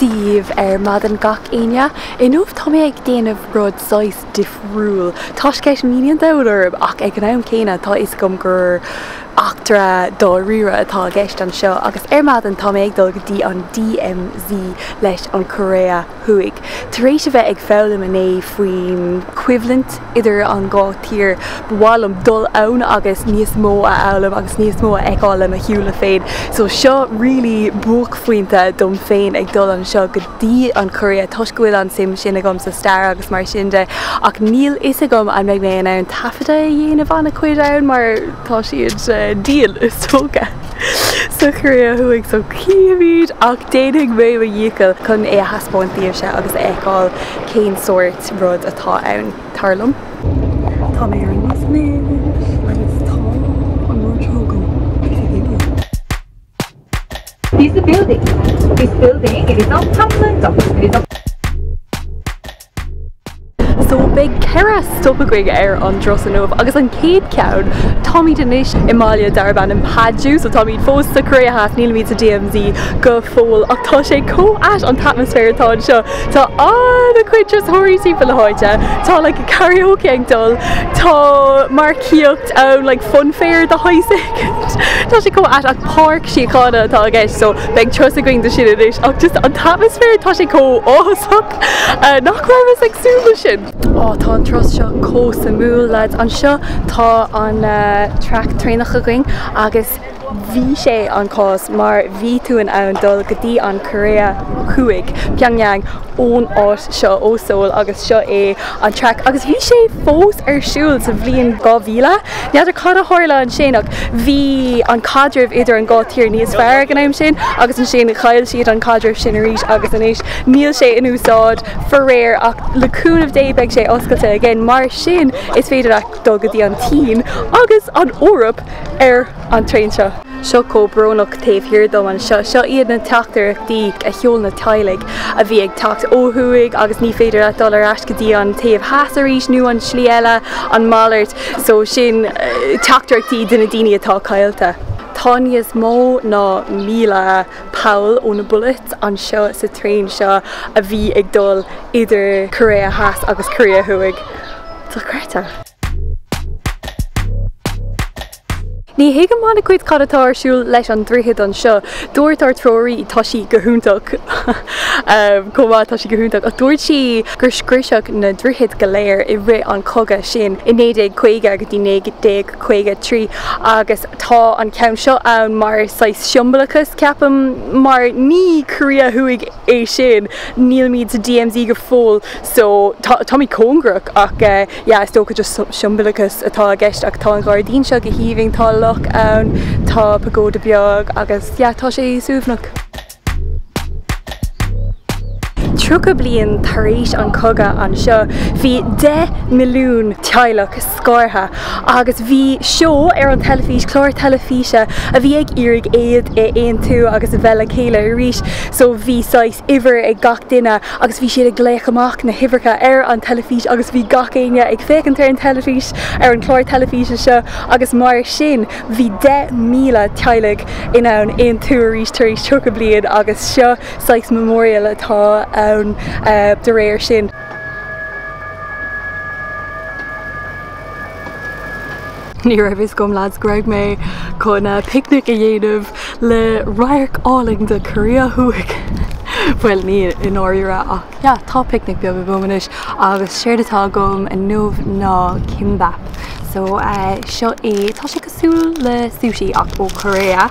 díobh ar maidin gach Aoine. Inniu tá mé ag déanamh rud saghas difriúil. Tá sceits míní an domhain orm ach ag an am céanna tá fhios agam gur eachtra dáiríre atá i gceist anseo agus ar maidin tá mé ag dul go dtí an DMZ leis an Choiréa Thuaidh. Tar éis a bheith ag foghlaim inné faoin choimhlint, idir an dhá thír. Ba mhaith liom dul ann agus níos mó a fhoghlaim agus níos mó a fheiceáil le mo shúile féin. So seo really buaicphointe dom féin ag dul anseo go dtí an Chóiré toisc go bhfuil an suim sin agam sa stair agus mar sin de ach níl fhios agam an mbeidh mé in ann taifeadadh a dhéanamh ana chuid ann mar tá siad dian is dócha sa Choiréa Thuaidh so chífimid ach déanfaidh mé mo dhícheall chun é a thaispeáint daoibhse agus a fheiceáil cén sórt rud atá ann, tar liom. Tá mé ar an mbus agus tá an rud seo agam, piece of building. Piece of building, This building, it is not Chaplin, Douglas, it is not. So beidh ceithre stop againn ar an dturas inniu agus an chéad ceann, táimid anois i mbaile darb ainm Paju, so táimid fós sa Choiréa Theas, nílimid sa DMZ go fóill ach tá sé chomh ait an t-atmaisféar atá anseo. Tá an-chuid turasóirí timpeall na háite, tá like karaoke ag dul, tá marcaíocht ann like fun fair de shaghas éigint. Tá sé chomh ait ach páirc síochána atá i gceist so beidh turas againn de sin anois ach just an t-atmaisféar tá sé chomh áthasach nach rabhas ag súil leis sin. Á tá an turas seo chomh suimiúil lads. Anseo tá an track traenach againn agus bhí sé an cás mar bhí tú in ann dul go dtí an Korea thuaidh, Pyongyang, ón áit seo ó Seoul agus seo é an track agus bhí sé fós ar siúl sa bhliain 2000. N'fheadar cad a tharla ansin ach bhí an caidreamh idir an dhá thír níos fearr ag an am sin agus ansin chaill siad an caidreamh sin arís agus anois níl sé in úsáid faraor ach le cúnamh Dé beidh sé oscailte again mar sin is féidir leat dul go dtí an tSín agus an Eoraip. ar an traein seo. seo chomh brónach taobh thiar díom anseo. Seo iad na teachtaireachtaí a sheol na teaghlaigh a bhí ag teacht ó thuaidh agus ní féidir leat dul ar ais go dtí an taobh theas arís nó an slí eile, an malairt. So sin teachtaireachtaí do na daoine atá caillte. Tá níos mó ná míle poll ó na bullets anseo sa traein seo a bhí ag dul idir Korea Theas agus Korea Thuaidh. Dochreidte. Ní thuigim ana-chuid cad atá ar siúl leis an droichead anseo. Dúirt ár dtreoraí, tá sí go hiontach chomh maith, tá sí go hiontach, ach dúirt sí gur scriosadh na droichid go léir i rith an chogadh sin i 1950 go dtí 1953 agus tá an ceann seo ann mar saghas siombalachas, ceapaim, mar ní Korea Thuaidh é sin, nílimid sa DMZ go fóill so táimid cóngarach ach. yeah is dócha just siombalachas atá i gceist ach tá an gairdín seo go haoibhinn, tá loch ann, tá pagoda beag agus yeah tá sé suaimhneach. Tríocha bliain tar éis an chogadh anseo bhí 10 milliún teaghlach scartha agus bhí seó ar an teilifís, clár teilifíse a bhí ag iarraidh iad a aontú agus a bheith le chéile arís so bhí saghas, uimhir ag gach duine agus bhí siad ag glaoch amach na huimhreacha ar an teilifís agus bhí gach éinne ag féachaint ar an teilifís, ar an chlár teilifíse seo agus mar sin bhí 10,000 teaghlaigh in ann aontú arís tar éis 30 bliain agus seo saghas memorial atá ann de réir sin. Ní raibh a fhios agam lads go raibh mé chun picnic a dhéanamh le radharc álainn de Korea Thuaidh! Bhuel ní i ndáiríre ach yeah tá picnic beag agam anois agus séard atá agam inniu ná kimbap so seo é, tá sé cosúil le sushi ach ó Korea.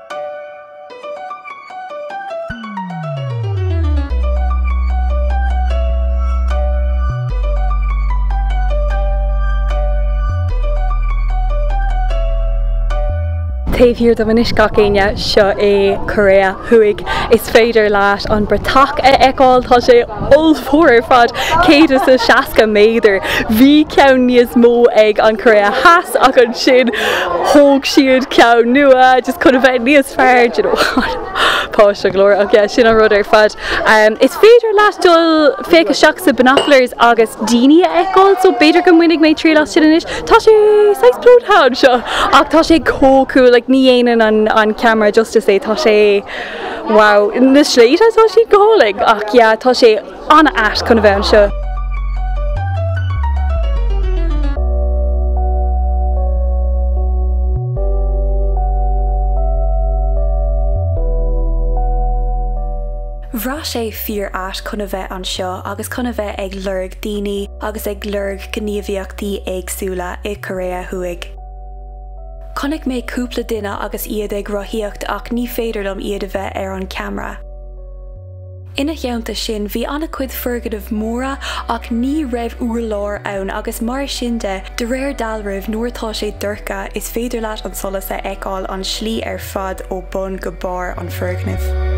Taobh thiar dom anois gach éinne, seo é Coiréa Thuaidh. Is féidir leat an bratach a fheiceáil, tá sé ollmhór ar fad, 160 méadar. Bhí ceann níos mó ag an Choiréa Theas ach an. sin, thóg siad ceann nua just chun a bheith níos fearr, do you know, páiste glórach, ach yeah, sin an rud ar fad. Is féidir leat dul féachaint isteach sa Binoculars agus daoine a fheiceáil, so b'fhéidir go mbainfidh mé triail as sin anois. Tá sé saghas plódaithe anseo ach tá sé chomh cool, like ní dhéanann an ceamara justice dó, tá sé wow, na sléibhte tá siad go hálainn, ach yeah, tá sé. an-ait chun a bheith anseo. Bhraith sé fíor-ait chun a bheith anseo agus chun a bheith ag lorg daoine agus ag lorg gníomhaíochtaí éagsúla i Korea Thuaidh. Chonaic mé cúpla duine agus iad ag rothaíocht ach ní féidir dom iad a bheith ar an ceamara. Ina theannta sin, bhí ana-chuid foirgneamh móra ach ní raibh úrláir ann agus mar sin de, de réir dealraimh, nuair atá sé dorcha, is féidir leat an solas a fheiceáil an slí ar fad ó bun go barr an foirgneamh.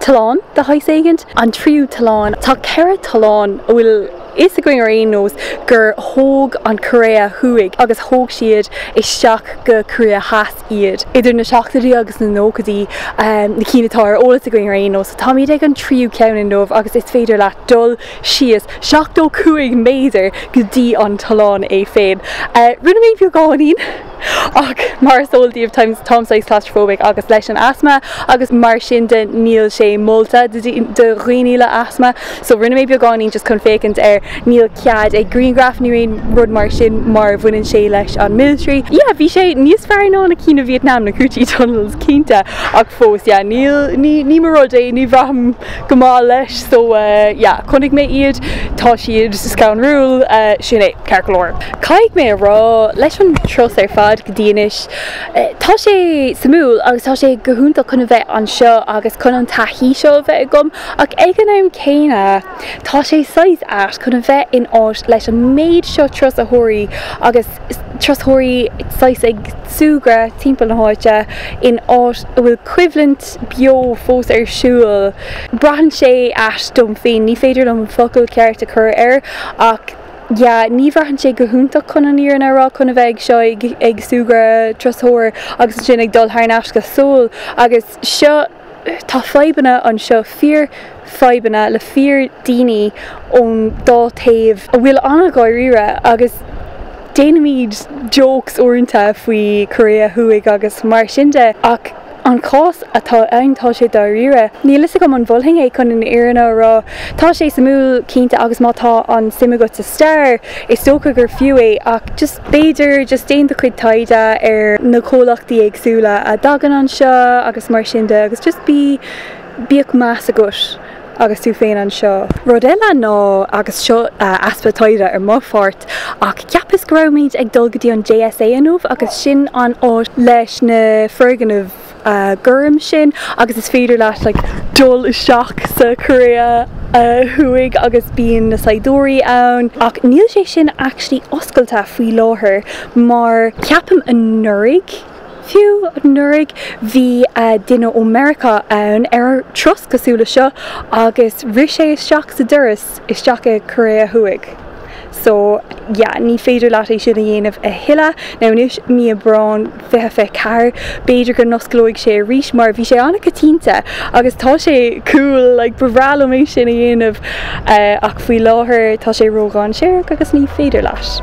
Tollán de shaghas éigint, an tríú tollán. Tá ceithre tollán a bhfuil fhios againn ar aon nós gur thóg an Chóiré Thuaidh agus thóg siad isteach go Cóiré Theas iad idir na seachtóidí agus na nóchaidí, na cinn atá ar eolas againn ar aon nós. Táimid ag an tríú ceann inniu agus is féidir leat dul síos seachtó cúig méadar go dtí an tollán é féin. Rinne mé beagáinín. Ach mar is eol díbh táim saghas claustrophobic agus leis an asma agus mar sin de níl sé molta do dhaoine le asma so rinne mé beagáinín just chun féachaint ar níl cead ag grianghraif nó aon rud mar sin mar bhaineann sé leis an military. Yeah bhí sé níos fearr ná na cinn i Vietnam na Cu Chi tunnels cinnte ach fós yeah níl ní ní mo rud é ní bhraithim go maith leis so yeah chonaic mé iad tá siad scanrúil sin é. Ceart go leor, caithfidh mé a rá, leis an turas ar fad go dtí anois, tá sé suimiúil agus tá sé go hiontach chun a bheith anseo agus chun an taithí seo a bheith agam ach ag an am céanna, tá sé saghas ait chun a bheith in áit leis an méid seo turasóirí agus turasóirí saghas ag súgradh timpeall na háite in áit a bhfuil coimhlint beo fós ar siúl. Braitheann sé ait dom féin, ní féidir liom an focal ceart a chur air ach. yeah, ní bhraitheann sé go hiontach chun an fhírinne a rá, chun a bheith ag seo, ag súgradh turasóir agus ansin ag dul thar n-ais go Seoul agus seo, tá fadhbanna anseo, fíor fadhbanna le fíor daoine ón dá taobh a bhfuil an-dháiríre agus déanaimid jokes uaireanta faoi Cóiré Thuaidh agus mar sin de ach. an cás atá ann, tá sé dáiríre. Níl fhios agam an molfainn é chun an fhírinne a rá. Tá sé suimiúil, cinnte, agus má tá an suim agat sa stair, is dócha gur fiú é, ach just, b'fhéidir, just déan do chuid taighde ar na comhlachtaí éagsúla a dtagann anseo agus mar sin de agus just bí, bíodh meas agat. agus tú féin anseo. Rud eile ná, agus seo easpa taighde ar mo pháirt, ach cheapas go rabhaimid ag dul go dtí an JSA inniu agus sin an áit leis na foirgnimh gorm sin agus is féidir leat like dul isteach sa Chóiré Thuaidh agus bíonn na saighdiúirí ann ach níl sé sin actually oscailte faoi láthair mar ceapaim anuraidh, Fiú anuraidh bhí duine ó Mheiriceá ann ar thuras cosúil le seo agus rith sé isteach sa doras isteach i Korea Thuaidh. So, yeah, ní féidir leat é sin a dhéanamh a thuilleadh. Now anois mí Aibreáin fiche fiche ceathair, b'fhéidir go n-osclóidh sé arís mar bhí sé an-coitianta agus tá sé cool, like ba bhreá liom é sin a dhéanamh ach faoi láthair tá sé ródhainséarach agus ní féidir leat.